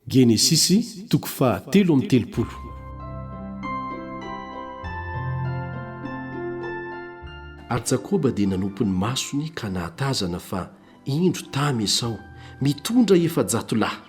Genesisy toko faha telo amby telopolo. Ary Jakoba dia nanopy ny masony ka nahatazana fa indro tamy Esao mitondra efajato lahy.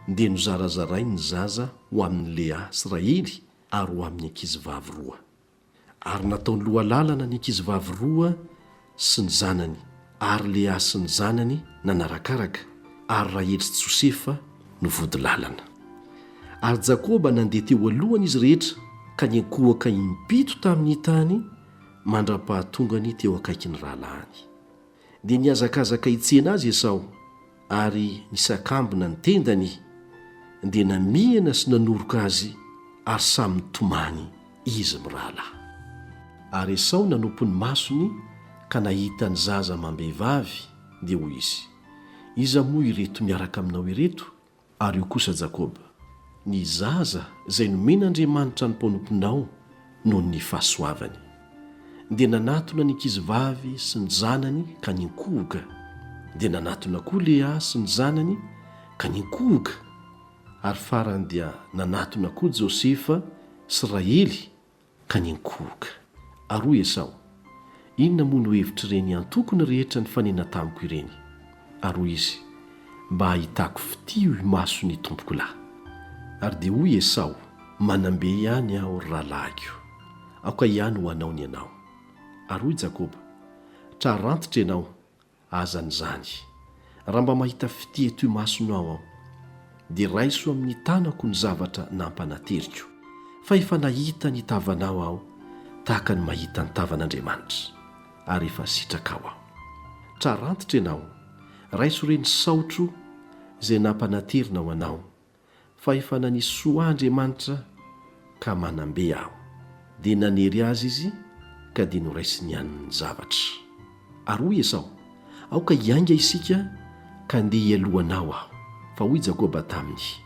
Dia nozarazarainy ny zaza ho amin' ny Lea sy Rahely ary ho amin' ny ankizy vavy roa. Ary nataony lohalalana ny ankizivavy roa sy ny zanany, ary Lea sy ny zanany nanarakaraka, ary Rahely sy Josefa no vody lalana. Ary Jakoba nandeha teo alohany izy rehetra ka niankohoka impito tamin'ny tany mandra-pahatongany teo akaikin'ny rahalahiny. dia nihazakazaka hitsena azy Esao, ary nisakambina ny tendany, dia namihana sy nanoroka azy ary samy nitomany izy mirahalahy. Ary Esao nanopy ny masony ka nahita ny zaza amam-behivavy, dia hoy izy, Iza moa ireto miaraka aminao ireto? Ary io kosa Jakoba, ny zaza izay nomen'Andriamanitra ny mpanomponao noho ny fahasoavany, dia nanatona ny ankizivavy sy ny zanany ka ninkohoka, dia nanatona koa Lea sy ny zanany ka ninkohoka, ary farany dia nanatona koa Josefa sy Rahely Ka niankohoka. Ary hoy Esao, Inona moa no hevitr'ireny antoko ny rehetra nifanena tamiko ireny? Ary hoy izy, Mba hahitako fitia ho imaso ny tompoko lahy. Ary dia hoy Esao, Manam-be ihany aho, ry rahalahiko. Aoka ihany ho anao ny anao. Ary hoy Jakoba, Tra rantitra ianao, Azany izany. Raha mba mahita fitia toy masonao aho, dia raiso amin'ny tanako ny zavatra nampanateriko, fa efa nahita ny tavanao aho tahaka ny mahita ny tavan'Andriamanitra, ary efa sitrakao aho. Trarantitra ianao, raiso ireny saotro izay nampanaterina ho anao, fa efa nanisy soa ahy Andriamanitra ka manam-be aho. Dia nanery azy izy ka dia noraisiny ihany ny zavatra. Ary hoy Esao, Aoka hiainga isika ka andeha hialoha anao aho. Fa hoy Jakoba taminy,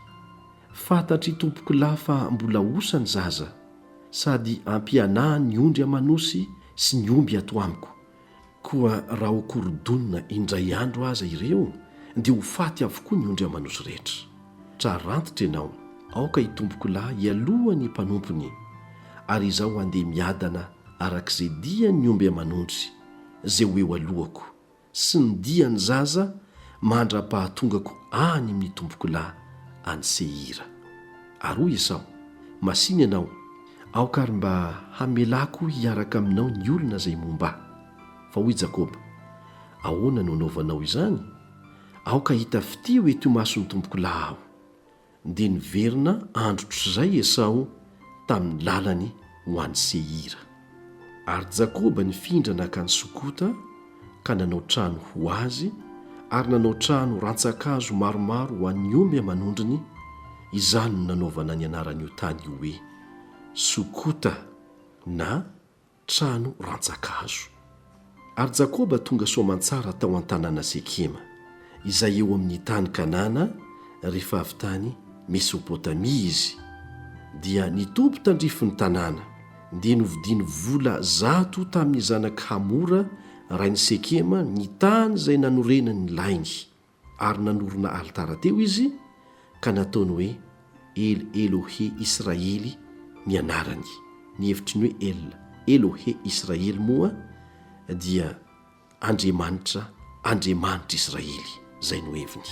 Fantatr'i tompokolahy fa mbola osa ny zaza, sady ampianahany ny ondry aman'osy sy ny omby ato amiko. Koa raha ho korodonina indray andro aza ireo dia ho faty avokoa ny ondry aman'osy rehetra. Tra rantitra ianao, aoka itompokolahy hialoha ny mpanompony, ary izaho handeha miadana arak'izay dian'ny omby aman'ondry izay ho eo alohako, sy ny dian'ny zaza mandra-pahatongako any amin'ny tompokolahy any Seira. Ary hoy Esao, Masìna ianao, Aoka ary mba hamelako hiaraka aminao ny olona izay momba ahy. Fa hoy Jakoba, Ahoana no anaovanao izany? Aoka hita fitia ho ety imason'ny tompokolahy aho. Dia niverina andro otr'izay Esao tamin'ny lalany ho any Seira. Ary Jakoba nifindra nankany Sokota, ka nanao trano ho azy ary nanao trano rantsan-kazo maromaro ho an'ny omby aman'ondriny, izany no nanaovana ny anaran'io tany io hoe Sokota na Trano Rantsan-kazo. Ary Jakoba tonga soamantsara tao an-tanàna Sekema, izay eo amin'ny tany Kanana, rehefa avy tany Mesopotamia izy, dia nitoby tandrifin'ny tanàna, Dia novidiany vola zato tamin'ny zanak'i Hamora rain'i Sekema ny tany izay nanorenany ny lainy, ary nanorina alitara teo izy, ka nataony hoe El Elohe Israely ny anarany. Ny hevitry ny hoe El Elohe Israely moa dia Andriamanitra, Andriamanitr'Israely, izay no heviny.